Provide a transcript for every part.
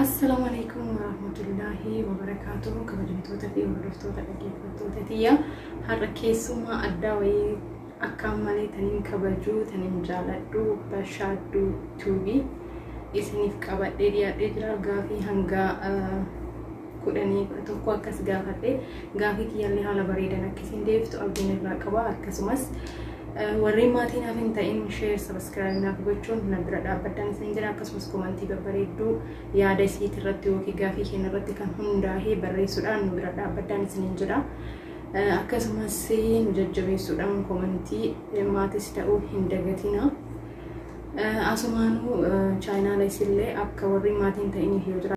Assalaamu alaikum warahmatullaahi wabarakaatuhu kabajamtoota fi hordoftoota dhaggeeffattoota tiyya har'a keessummaa addaa wayii akkaan malee taniin kabajuu taniin jaaladhu bashaadduu tuubii isiniif qabadhee dhiyaadhee jira gaafii hanga kudhanii kudha tokko akkas gaafadhe gaafii kiyyallee haala bareedan akkasiin deebiftu abdiin irraa qaba akkasumas warreen maatii naaf hin ta'in sheer sabiskiraayib naaf gochuun na bira dhaabbaddan isin jira akkasumas komantii babbareedduu yaada isiit irratti yookiin gaafii keenya irratti kan hundaa'ee barreessuudhaan nu bira dhaabbaddan isin jira akkasumas nu jajjabeessuudhaan komantii maatis ta'uu hin dagatina. Asumaanuu chaayinaala isillee akka warri maatiin ta'iniif yoo jira.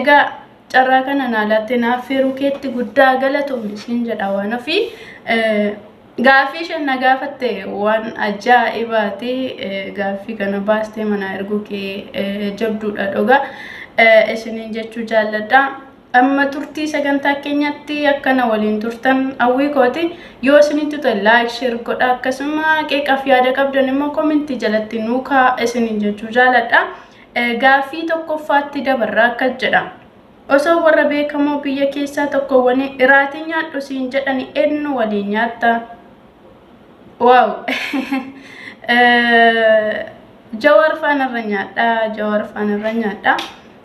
Egaa carraa kana naa laattee naa affeeruu keetti guddaa galatoomi siin jedha waan ofii. Gaaffii isheen na gaafatte waan ajaa'ibaati. Gaaffii kana baastee manaa erguu kee jabduudha dhugaa. Isiniin jechuu jaalladha. Amma turtii sagantaa keenyatti akkana waliin turtan hawwii kooti. Yoo isinitti ta'e laayik sheer godha akkasuma qeeqaaf yaada qabdan immoo komintii jalatti nuu kaa'a isiniin jechuu jaalladha. Gaaffii tokkoffaatti dabarra akkas jedha. Osoo warra beekamoo biyya keessaa tokko wani iraatii nyaadhu siin jedhani ennu waliin nyaatta. Waaw! Jawaar faanarra nyaadha. Jawaar faanarra nyaadha.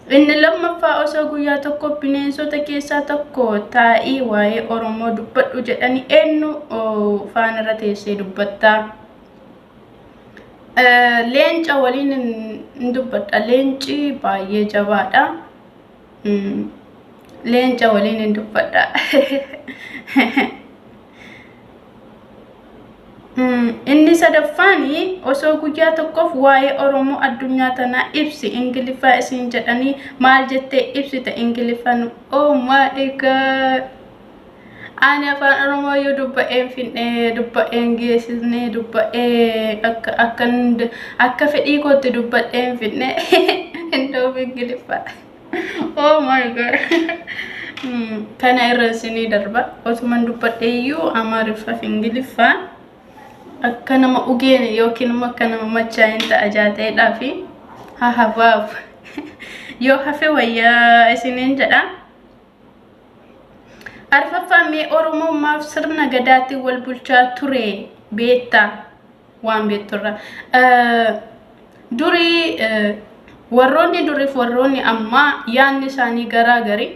Inni lammaffaa osoo guyyaa tokko bineensota keessaa tokko taa'ii waa'ee Oromoo dubbadhu jedhani ennu faanarra teessee dubbatta. Leenca waliin hin dubbadha. Leenci baay'ee jabaadha. Leenca waliin hin dubbadha. Inni sadaffaan osoo guyyaa tokkoof waa'ee Oromoo addunyaa tanaa ibsi Ingiliffaa isiin jedhanii maal jettee ibsita Ingiliffaan oh my god Ani afaan Oromoo yoo dubba'een fidhee, dubba'een geessisnee, dubba'ee akka, akka, akka fedhii kootti dubbadheen fidne hin ta'u Ingiliffa. Oh my god. Hmm, Kana irra isinii darba. Otuman dubbadhee iyyuu Amaariffaaf Ingiliffa akka nama ugeene yookiin immoo akka nama machaa'een ta'a jaateedhaa fi hahabaaf yoo hafe wayyaa isiniin jedha. Arfaffaa mee Oromoo maaf sirna gadaatiin wal bulchaa ture beetta waan beetturra. Durii warroonni duriif warroonni ammaa yaanni isaanii garaa gari.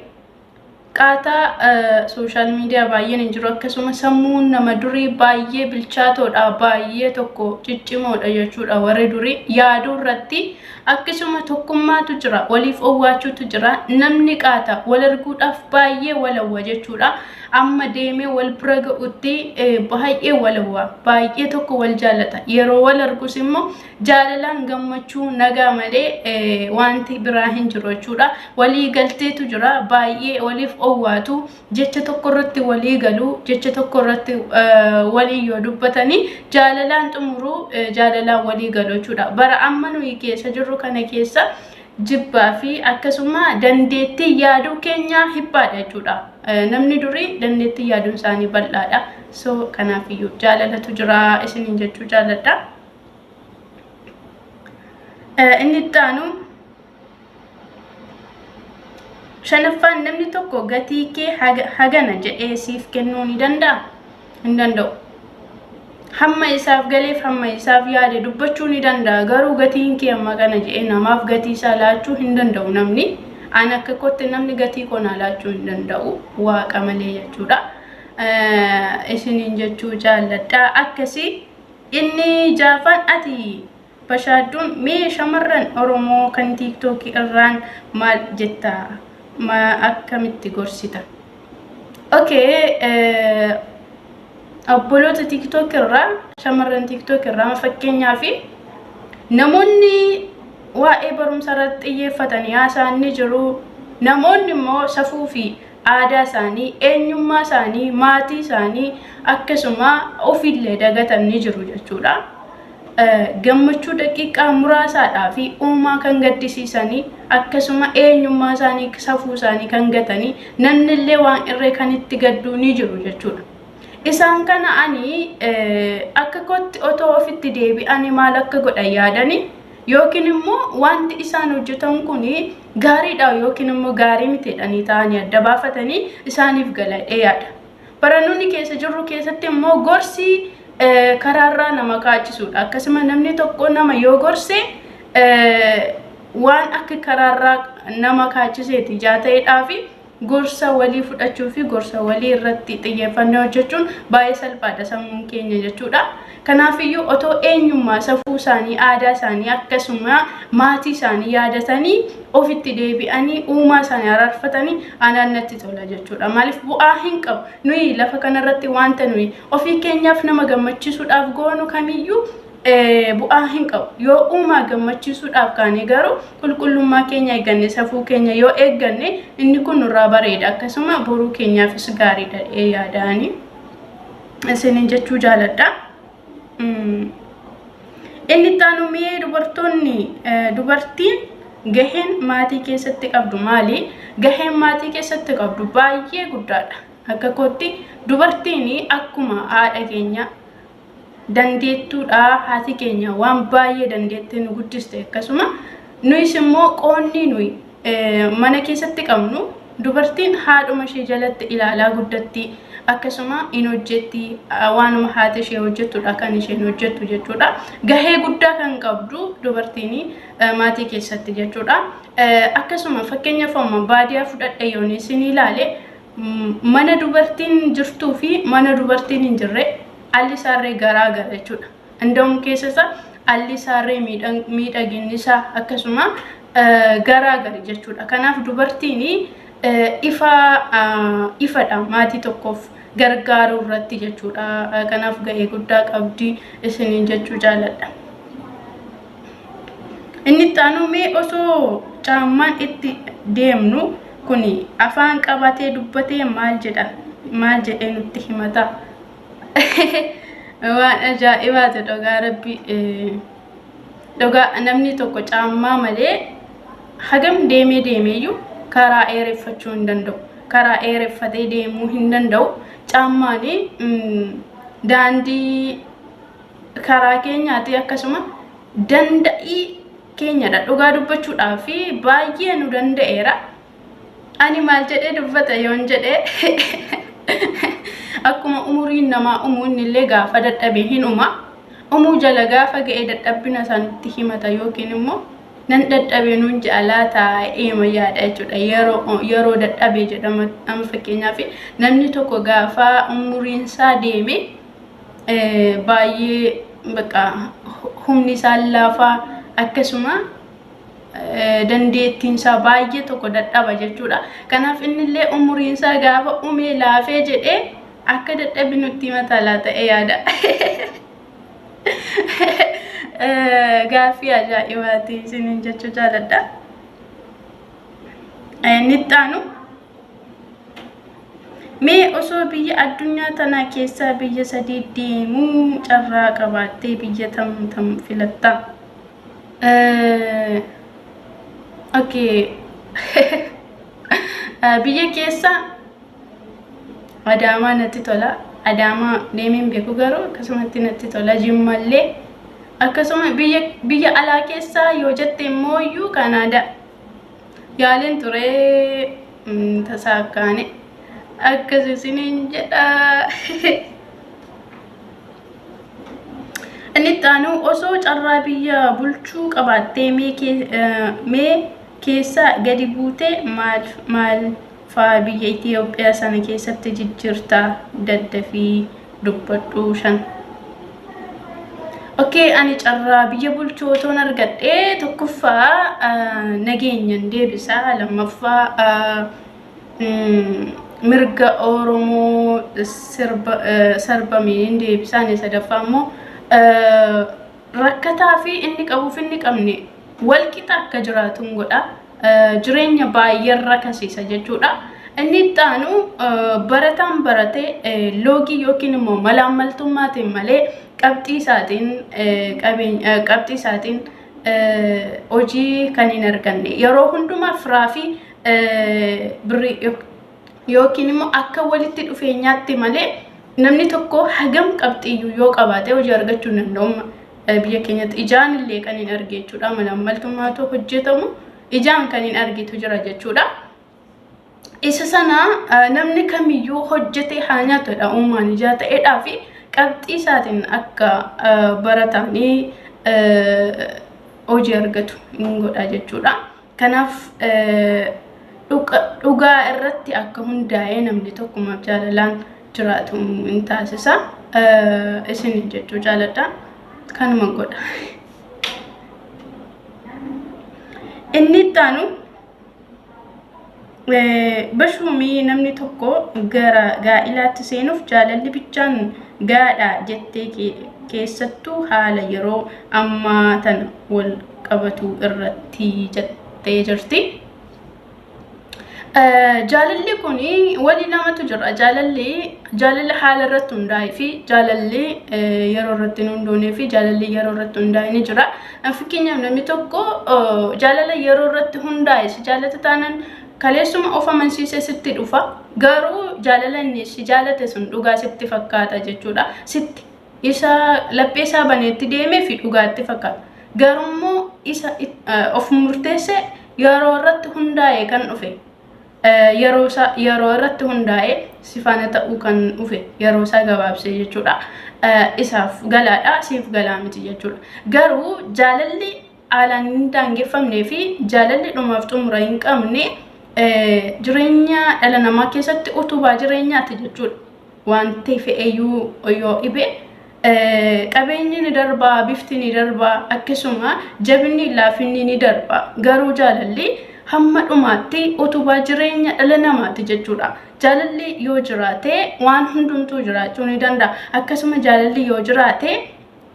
Qaataa sooshaal miidiyaa baay'een hin jiru akkasuma sammuun nama durii baay'ee bilchaatoodha baay'ee tokko ciccimoodha jechuudha warri durii yaaduu irratti Akkisuma tokkummaatu jira, waliif owwaachuutu jira. Namni qaata, wal arguudhaaf baay'ee wal hawwa jechuudha. Amma deemee wal bira ga'utti baay'ee wal hawwa, baay'ee tokko wal jaallata. Yeroo wal argus immoo jaalalaan gammachuu nagaa malee wanti biraa hin jiru jechuudha. Walii galteetu jira, baay'ee waliif owwaatu. jecha tokko irratti walii galuu jecha tokko irratti walii yoo dubbatanii jaalalaan xumuruu jaalalaan walii galuu jechuudha bara amma nuyi keessa jirru kana keessa jibbaa fi akkasuma dandeettii yaaduu keenyaa hiphaadha jechuudha namni durii dandeettii yaaduun isaanii bal'aadha so kanaafiyyuu jaalalatu jira isiniin jechuu jaaladha inni itti aanu shanaffaan namni tokko gatii kee hagana jedhee siif kennuu ni danda'a hin danda'u hamma isaaf galeef hamma isaaf yaade dubbachuu ni danda'a garuu gatiin kee amma kana jedhee namaaf gatii isaa laachuu hin danda'u namni an akka kootti namni gatii koo naa laachuu hin danda'u waaqa malee jechuudha isiniin jechuu jaalladha akkasii inni jaafaan ati Bashaadduun mee shamarran oromoo kan tiktok irraan maal jetta ma akkamitti gorsita ok obboloota tiktok irraa shamarran tiktok irraa ma fakkeenyaa fi namoonni waa'ee barumsa irratti xiyyeeffatan haasaa'an ni jiru namoonni immoo safuu fi aadaa isaanii, eenyummaa isaanii, maatii isaanii akkasuma ofiillee dagatan ni jiru jechuudha. Gammachuu daqiiqaa muraasaadhaa fi uumaa kan gaddisiisanii akkasuma eenyummaa isaanii safuu isaanii kan gatanii namnillee waan irree kan itti gadduu ni jiru jechuudha. Isaan kana ani akka kootti otoo ofitti deebi'anii maal akka godhan yaadanii yookiin immoo wanti isaan hojjetan kun gaariidha yookiin immoo gaarii miti jedhanii ta'anii adda baafatanii isaaniif gala jedhee yaada. Barannoonni keessa jirru keessatti immoo gorsi eh, karaarraa nama kaachisudha. Akkasuma namni tokko nama yoo gorse eh, waan akka karaarraa nama kaachiseeti ijaa ta'eedhaa fi Gorsa walii fudhachuu fi gorsa walii irratti xiyyeeffannee hojjechuun baay'ee salphaadha sammuun keenya jechuudha. Kanaafiyyuu otoo eenyummaa safuu isaanii, aadaa isaanii akkasuma maatii isaanii yaadatanii ofitti deebi'anii uumaa isaanii araarfatanii anaan natti tola jechuudha. Maaliif bu'aa hin qabu. Nuyi lafa kanarratti wanta nuyi ofii keenyaaf nama gammachiisuudhaaf goonu kamiyyuu bu'aa hin qabu. Yoo uumaa gammachiisuudhaaf kaane garuu qulqullummaa keenya eegganne safuu keenya yoo eegganne inni kun nurraa bareeda akkasuma boruu keenyaafis gaariidha jedhee yaadaani isiniin jechuu jaaladha. Inni itti aanu mi'ee dubartoonni dubartiin gaheen maatii keessatti qabdu maali? Gaheen maatii keessatti qabdu baay'ee guddaadha. Akka kootti dubartiin akkuma haadha keenya dandeettuudha haati keenya waan baay'ee dandeettee nu guddiste akkasuma nuyis immoo qoonni nuyi mana keessatti qabnu dubartiin haadhuma ishee jalatti ilaalaa guddatti akkasuma in hojjetti waanuma haati ishee hojjettudha kan isheen hojjettu jechuudha gahee guddaa kan qabdu dubartiin maatii keessatti jechuudha akkasuma fakkeenyaaf amma baadiyaa fudhadhe yoon isin ilaale mana dubartiin jirtuu fi mana dubartiin hin jirre alli saarree garaa gara jechuudha. Inda'uun keessa isaa alli saarree miidhaginni isaa akkasuma garaa gari jechuudha. Kanaaf dubartiin ifa ifadha maatii tokkoof gargaaruu irratti jechuudha. Kanaaf gahee guddaa qabdi isiniin jechuu jaaladha. Inni itti aanuu mee osoo caammaan itti deemnu kun afaan qabatee dubbatee maal jedha maal jedhee nutti himata waan ajaa'ibaati dhugaa rabbi dhugaa namni tokko caammaa malee hagam deemee deemeeyyuu karaa eereffachuu hin danda'u karaa eereffatee deemuu hin danda'u caammaanii daandii karaa keenyaati akkasuma danda'ii keenyadha dhugaa dubbachuudhaa fi baay'ee nu danda'eera ani maal jedhee dubbata yoon jedhee akkuma umuriin namaa umuu innillee gaafa dadhabe hin uma umuu jala gaafa ga'ee dadhabbina isaa nutti himata yookiin immoo nan dadhabe nuun ja'a laata eema yaada jechuudha yeroo yeroo dadhabe jedhama amma fakkeenyaaf namni tokko gaafa umuriin isaa deeme baay'ee bakka humni isaa laafaa akkasuma dandeettiin isaa baay'ee tokko dadhaba jechuudha. Kanaaf inni illee umuriin isaa gaafa umee laafee jedhee akka dadhabi nutti mataa laata yaada. Gaaffii ajaa'ibaati isiniin jechuu jaaladha. Nittaanu. Mee osoo biyya addunyaa tanaa keessaa biyya sadii deemuu carraa qabaattee biyya tam tam filatta? Okay. biyya keessa Adaamaa natti tola. Adaamaa deemeen beeku garuu akkasumatti natti tola. Jimmallee akkasuma biyya biyya alaa keessaa yoo jette immoo iyyuu Kanaadaa. Yaaliin ture mm, tasaakkaane akkas isiniin jedha. Inni itti aanu osoo carraa biyya bulchuu qabaattee mee kee- eh, mee keessaa gadi buutee maal maal fa'aa biyya Itiyoophiyaa sana keessatti jijjirta daddafii dubbadhu shan. Okkee ani carraa biyya bulchuu otoon argadhee tokkoffaa nageenyan deebisa lammaffaa mirga Oromoo sarbameen deebisa inni sadaffaa immoo rakkataa fi inni qabuuf inni qabne walqixa akka jiraatu godha. jireenya baay'een rakasiisa jechuudha. Inni itti aanu barataan barate loogii yookiin immoo malaammaltummaatiin malee qabxii isaatiin qabxii isaatiin hojii kan hin arganne yeroo hundumaa firaa fi birrii yookiin immoo akka walitti dhufeenyaatti malee namni tokko hagam qabxiyyuu yoo qabaate hojii argachuu hin danda'u. Eh, Biyya keenyatti ijaan illee kan hin arge jechuudha. Malaammaltummaatu hojjetamu ijaan kan hin argitu jira jechuudha. Isa sana eh, namni kamiyyuu hojjetee haa nyaatudha uumaan ijaa ta'eedhaa fi qabxii isaatiin akka eh, baratamee eh, hojii argatu hin godha jechuudha. Kanaaf dhugaa irratti akka hundaa'ee namni tokkumaaf jaalalaan jiraatu hin taasisa. Isin jechuu jaaladha. Kanuma godha. Inni itti aanu Bashuumii namni tokko gara gaa'ilaatti seenuuf jaalalli bichaan gaadha jettee keessattuu haala yeroo ammaa tan wal qabatu irratti jettee jirti. Jaalalli kun wali lamatu jira. Jaalalli jaalala haala irratti hundaa'ee fi jaalalli yeroo irratti hin hundoonee fi jaalalli yeroo irratti hundaa'e ni jira. Fakkeenyaaf namni tokko jaalala yeroo irratti hundaa'e si jaalatu taanaan kaleessuma of amansiisee sitti dhufa. Garuu jaalala inni si jaalate sun dhugaa sitti fakkaata jechuudha. Sitti isa laphee isaa baneetti deemee fi dhugaatti fakkaata. Garuu immoo isa of murteesse yeroo irratti hundaa'e kan dhufe. yeroo isaa yeroo irratti hundaa'ee si faana ta'uu kan dhufe yeroo isaa gabaabsee jechuudha. Isaaf galaadha siif galaa miti jechuudha. Garuu jaalalli haalaan hin daangeffamnee fi jaalalli dhumaaf xumura hin qabne jireenya dhala namaa keessatti utubaa jireenyaati jechuudha. Wanti fe'eyyuu yoo dhibee Qabeenyi ni darba, bifti ni darba, akkasuma jabinni laafinni ni darba. Garuu jaalalli hamma dhumaatti utubaa jireenya dhala namaati jechuudha. Jaalalli yoo jiraate waan hundumtuu jiraachuu ni danda'a. Akkasuma jaalalli yoo jiraate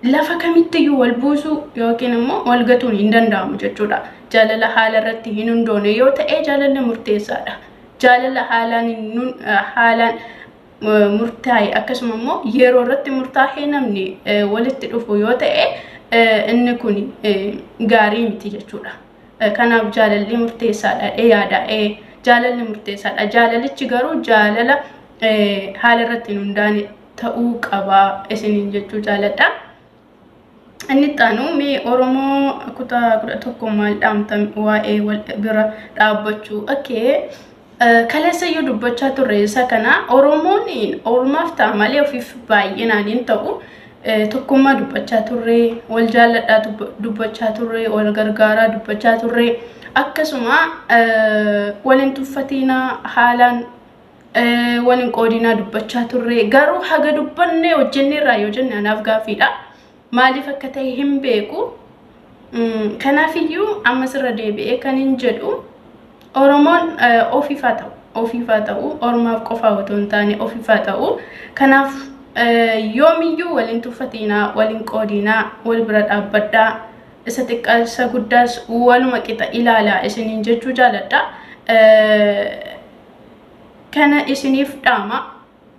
lafa kamittiyyuu wal buusuu yookiin immoo wal gatuun hin danda'amu jechuudha. Jaalala haala irratti hin hundoone yoo ta'e jaalalli murteessaadha. Jaalala haalaan murtaa'e akkasuma immoo yeroo irratti murtaa'ee namni walitti dhufu yoo ta'e inni kun gaarii miti jechuudha. Kanaaf jaalalli murteessaadha dhee yaada. Jaalalli murteessaadha. Jaalalichi garuu jaalala haala irratti hin hundaane ta'uu qaba isiniin jechuu jaaladha. Inni itti aanu mee Oromoo kutaa kudha tokko maal dhaamtan waa'ee wal bira dhaabbachuu. Okay. Kaleessa iyyuu dubbachaa turre isa kana Oromoon ormaaf ta'a malee ofiif baay'inaan hin ta'u. Tokkummaa dubbachaa turre, wal jaalladhaa dubbachaa turre, wal gargaaraa dubbachaa turre. Akkasuma wal hin tuffatiinaa haalaan wal hin qoodinaa dubbachaa turre garuu haga dubbannee hojjennee irraa yoo jenne anaaf gaaffiidha maaliif akka ta'e hin beeku kanaafiyyuu ammas irra deebi'ee kan hin jedhu oromoon ofiif haa ta'u ofiif haa ta'u ormaaf qofaa otoo hin taane ofiif haa ta'u kanaaf yoomiyyuu wal hin tuffatiinaa wal hin qoodinaa wal bira dhaabbadhaa isa xiqqaa isa guddaas waluma qixa ilaalaa isiniin jechuu jaaladha. kana isiniif dhaama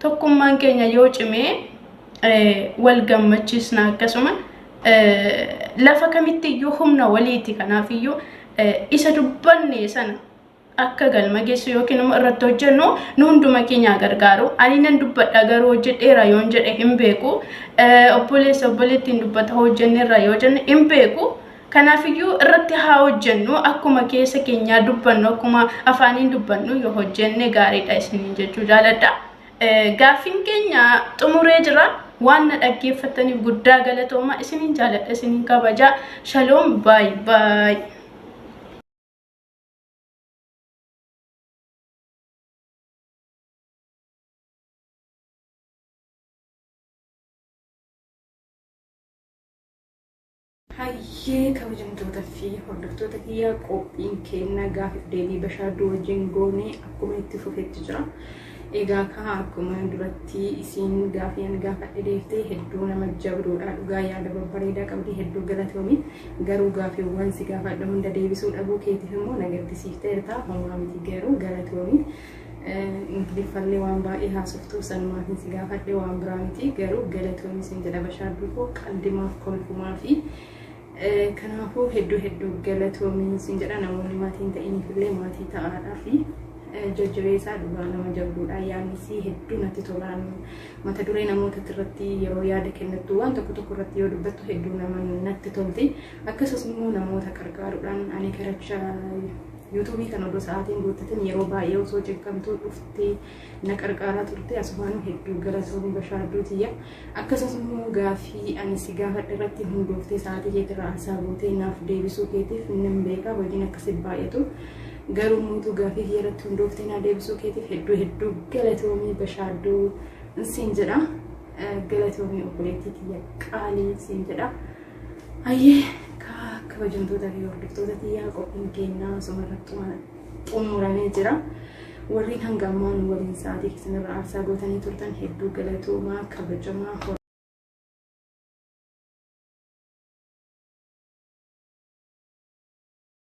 tokkummaan keenya yoo cimee wal gammachiisna akkasuma lafa kamitti iyyuu humna waliiti kanaaf iyyuu isa dubbanne sana akka galma geessu yookiin immoo irratti hojjennu nu hunduma keenyaa gargaaru ani nan dubbadha garuu hojjedheera yoon jedhe hin beeku obboleessa obboleettiin dubbata hojjenneerra yoo jenne hin beeku Kanaafiyyuu irratti haa hojjennu akkuma keessa keenyaa dubbannu akkuma afaaniin dubbannu yoo hojjenne gaariidha isiniin jechuu jaaladha. Gaaffiin keenya xumuree jira. Waan na dhaggeeffattaniif guddaa galatooma isiniin jaaladha isiniin kabaja. Shaloom baay baay. Hayyee kabajamtoota fi hordoftoota kiyya qophiin keenya gaaffiif deebii bashaaduu wajjin goonee akkuma itti fufetti jira. Egaa kaa akkuma duratti isiin gaaffii ani gaafadhe deeftee hedduu nama jabduudha dhugaa yaada babbareedaa qabdi hedduu galatoomi garuu gaaffiiwwan si gaafadhe hunda deebisuu dhabuu keetiif immoo na gaddisiifteerta homaa miti garuu galatoomi. Ingiliffallee waan baay'ee haasoftuuf sanumaafin si gaafadhe waan biraa miti garuu galatoomi sin jedha bashaaduu koo qaldimaaf kolfumaa fi kanaafuu hedduu hedduu galatoomi sin jedha namoonni maatii hin ta'iniifillee maatii ta'aadhaa fi jajjabeessaa dhugaa nama jabduudha yaannisii hedduu natti tolaan mata duree namoota irratti yeroo yaada kennattu waan tokko tokko irratti yoo dubbattu hedduu nama natti tolti akkasumas immoo namoota qarqaaruudhaan ani karacha Yuutuubii kana odoo sa'aatiin guuttatin yeroo baay'ee osoo cinqamtuu dhuftee na qarqaaraa turte asumaanuu hedduu galatoomi bashaarduu tiyya akkasumas immoo gaafii ani si gaafadhe irratti hundooftee sa'aatii keetirraa aarsaa gootee naaf deebisuu keetiif nan beekaa hojiin akkasii baay'atu garuu muutuu gaafii kiyya irratti hundooftee naa deebisuu keetiif hedduu hedduu galatoomi bashaarduu siin jedha galatoomii obboleettii tiyya qaalii siin jedha. Ayyee kaa kabajamtoota fi hordoftoota tiyyaa qophiin keenyaa osuma irratti xumuramee jira. Warreen hanga ammaa nu waliin sa'aatii keessanirra aarsaa gootanii turtan hedduu galatoomaa kabajamaa hor-